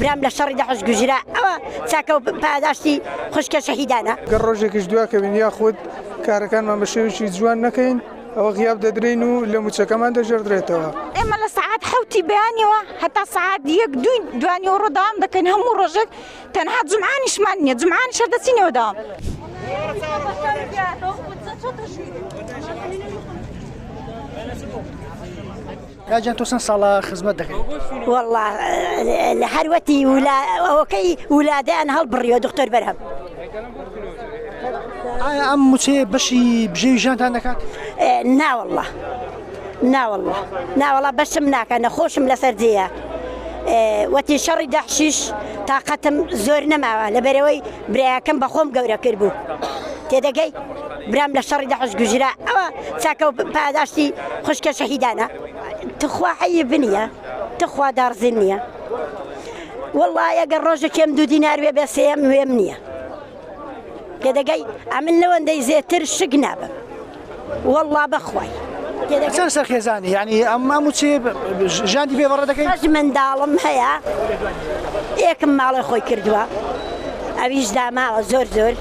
برام لە شەڕی دەحش گوژرا ئەوە چاکە و پاداشتی خوشکە شەهیدانە گەڕ ڕۆژێکیش دواکەوین یاخود کارەکانمان بە شێوشی جوان نەکەین ئەوە غیاب دەدرین و لە موچەکەمان دەژێردرێتەوە ئێمە لە سعات حوتی بەیانەوە هەتا سعات یەک دوین دوانی و ڕۆداوام دەکەین هەموو ڕۆژێک تەنها جمعانیشمان نییە جمعانیش هەر دەچینەوە داوام. کاجان تۆ چەند ساڵە خزمەت دەکەیت والله لە هەروەتی ولا ئەوەکەی ولادیان هەڵبڕیەوە دکتۆر بەرهەم ئایا ئەم موچەیە بەشی بژێوی ژانتان دەکات ناوەله ناوەڵا ناوەڵا بەشم ناکە نەخۆشم لەسەر جێە وەتی شەڕی دەحشیش تااقەتم زۆر نەماوە لە بەرەوەی برایەکەم بەخۆم گەورە کرد بوو تێدەگەی برام لە شەڕی دەحش گوژرا ئەوە چاکە پاداشتی خوشکە شەهیدانە تخوا حەی بنیە تخوا داڕزین نییە وڵایەگە ڕۆژە کێم دوو دینار وێ بێ سێم وێم نییە. تێدەگەی ئەمن لەوەندەی زێتر شک نابم والله بەخوای چەند سەرخێزانی ینی ئەمما موچێ ژاندی بێ بەڕە دەکەی منداڵم هەیە یەکم ماڵی خۆی کردووە ئەویش داماوە زۆر زۆر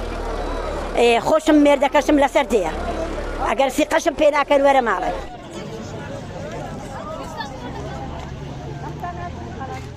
خۆشم مێردەکەشم لەسەر دەیە ئەگەر سیقەشم پێ ناکەن وەرە ماڵێ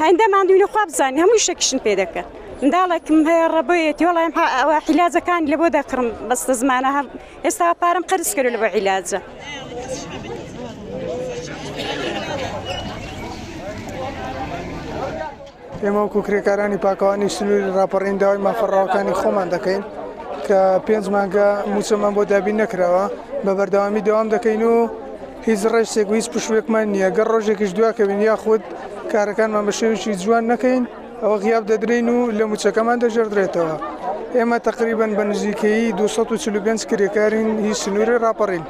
هێندە ماندووینە خوا بزانین هەموو شتێکیشم پێ دەکەن منداڵێکم هەیە ڕەبەیەتی وەڵایم ئەوە حیلاجەکان لە بۆ دەکڕم بەستە زمانە هەم ئێستا پارەم قەرز کرد لە بە عیلاجە. ئێمە وەکو کرێکارانی پاکەوانی سنووری راپەڕین داوای مافەڕاوەکانی خۆمان دەکەین کە پێنج مانگە موچەمان بۆ دابین نەکراوە بە بەردەوامی دەوام دەکەین و هیچ ڕێچێک و هیچ پشووێکمان نییە، گەر ڕۆژێکیش دواکەوین یاخود کارەکانمان بە شێوەیەکی جوان نەکەین، ئەوە غیاب دەدرێین و لە مووچەکەمان دەگێڕدرێتەوە. ئێمە تەقریبەن بە نزیکەیی دوو سەد و چل و پێنج کرێکارین هی سنووری ڕاپەڕین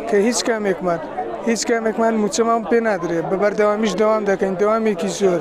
کە هیچ کامێکمان هیچ کامێکمان مووچەمان پێ نادرێت، بە بەردەوامیش دەوام دەکەین، دەوامێکی زۆر.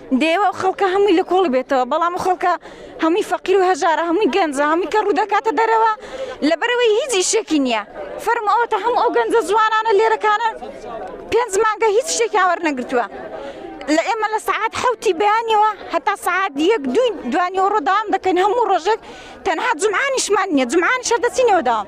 دەیەوێ ئەو خەڵکە هەمووی لە کۆڵی بێتەوە بەڵام ئەو خەڵکە هەمووی فەقیر و هەژارە هەمووی گەنجە هەمووی کەڕوو دەکاتە دەرەوە لەبەرەوەی هیچ ئیشێکی نییە فەرموو ئەوەتە هەموو ئەو گەنجە جوانانە لێرەکانە پێنج مانگە هیچ شتێکیان وەرنەگرتووە لە ئێمە لە سەعات حوتی بەیانەوە هەتا سەعات یەک دوی دوانیەوە ڕۆداوام دەکەین هەموو ڕۆژێک تەنها جمعانیشمان نییە جمعانی شەر دەچینەوە داوام